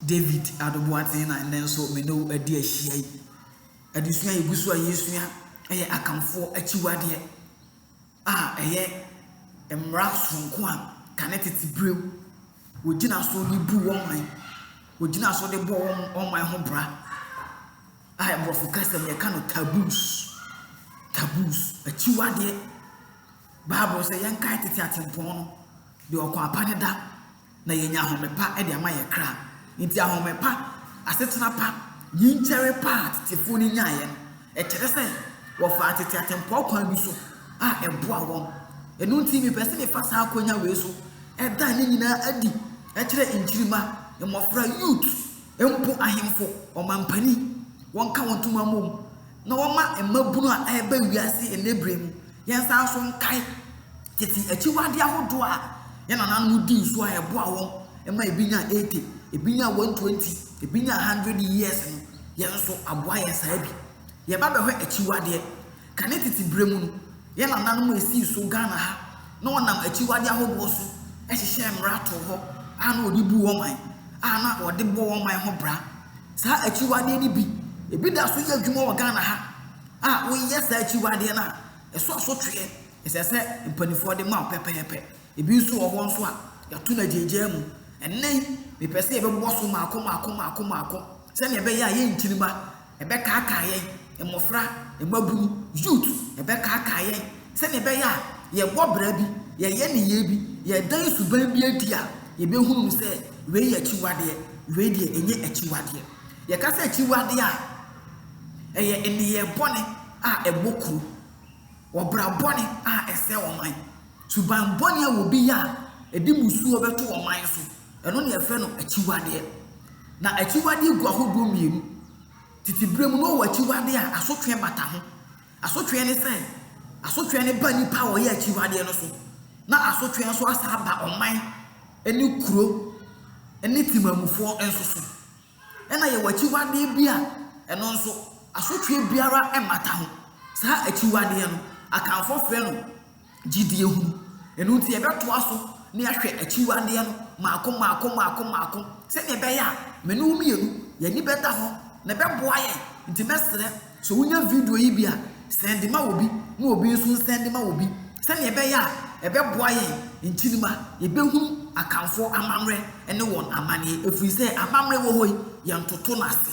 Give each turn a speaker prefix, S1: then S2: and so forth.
S1: David Adoboateng na nnɛ nso me ne wo adi ahyia yi. Adesua a yɛgu so a yɛresua yɛ Akanfoɔ akyiwadeɛ a ɛyɛ mmara soronko a kane tete berɛm wɔgyina so de bu wɔn man, wɔgyina so de bɔ wɔn wɔn man ho bra a Mmorɔfo kasa mu yɛka no taboos, taboos, akyiwadeɛ. Bible sɛ yɛnkae tete atempɔn no, deɛ ɔkwan pa ne da. na yɛanya ahome pa de ama yɛn kra. Enti ahome pa, asetena pa, yinkyɛre pa a tetefoɔ no nyaeɛ no, ɛkyerɛ sɛ wɔfaa tete atempɔn kwan bi so a ɛboaa wɔn. Ɛno nti, mepɛ sɛ mefa saa akwannya wei so da ne nyinaa adi kyerɛ nkyirimma, mmɔfra, youth, mpo ahemfo, ɔmampanin, wɔnka wɔn ntoma mmom na wɔma mmabunu a ɛreba wiase nnɛ bere mu. Yɛnsan nso nkae Tete akyiwade ahodoɔ a yɛn nananom dii so a ɛboaa wɔn ma ebi nyaa eighty, ebi nyaa one twenty, ebi nyaa hundred years no, yɛn nso aboa yɛn saa bi. Yɛba bɛhwɛ akyiwadeɛ, kane tete berɛ mu no, yɛn nananom a esii so Ghana ha na wɔnam akyiwadeɛ ahodoɔ so hyehyɛɛ mmara too hɔ a na wɔde bu wɔn man, a na wɔde bɔ wɔn man ho bra. Saa akyiwadeɛ no bi, ebi da so yɛ adwuma wɔ Ghana ha a woyɛ saa akyiwadeɛ no a, ɛsɔ asotweɛ ɛsɛ sɛ mpanimfoɔ de ma wo pɛpɛɛpɛ. Ebi nso wɔ hɔ nso a, yɛato no agyaagyaa mu. Ɛnnɛ yi, mepɛ sɛ yɛbɛbɔ so mmaako mmaako mmaako mmaako sɛnea ɛbɛyɛ a yɛn nkyirimma ɛbɛkaakaa yɛn, mmɔfra, mmabunu, youth, ɛbɛkaakaa yɛn sɛnea ɛbɛyɛ a yɛbɔ bra bi, yɛyɛ nneyɛe bi, yɛdan suban bi adi a, yɛbɛhunu no sɛ wei yɛ akyiwadeɛ, wei deɛ ɛnyɛ akyiwadeɛ. Yɛka sɛ akyiwadeɛ a, ɛyɛ nneyɛe bɔne a ɛbɔ kuro. Wɔ bra bɔne a ɛsɛe ɔman, suban bɔne a obi yɛ a ɛde mmusuo bɛto ɔman so, ɛno na yɛfrɛ no akyiwadeɛ. Na akyiwadeɛ gu ahodoɔ mmienu. Tete berɛ mu na ɔwɔ akyiwadeɛ a asotweɛ bata ho. Asotweɛ ne sɛ, asotweɛ no ba nipa a ɔyɛ akyiwadeɛ no so, na asotweɛ nso asan aba ɔman ne kuro ne temanmufoɔ nso so. Ɛna yɛwɔ akyiwadeɛ bi a ɛno nso asotweɛ biara mmata ho. Saa akyiwadeɛ no, Akanfoɔ frɛ no gyidie hunu. Ɛno nti yɛbɛtoa so na yɛahwɛ akyiwadeɛ no mmaako mmaako mmaako mmaako sɛdeɛ ɛbɛyɛ a me ne wo mmienu yɛn ani bɛda hɔ na ɛbɛboa yɛn. Nti mɛsrɛ So wunya video yi bi a, sɛnde ma obi na obi nso nsɛnde ma obi sɛnea ɛbɛyɛ a ɛbɛboa yɛn nkyiri ma yebehunu Akanfoɔ amammerɛ ne wɔn amanneɛ, ɛfiri sɛ amammerɛ wɔ hɔ yi, yɛntoto no ase.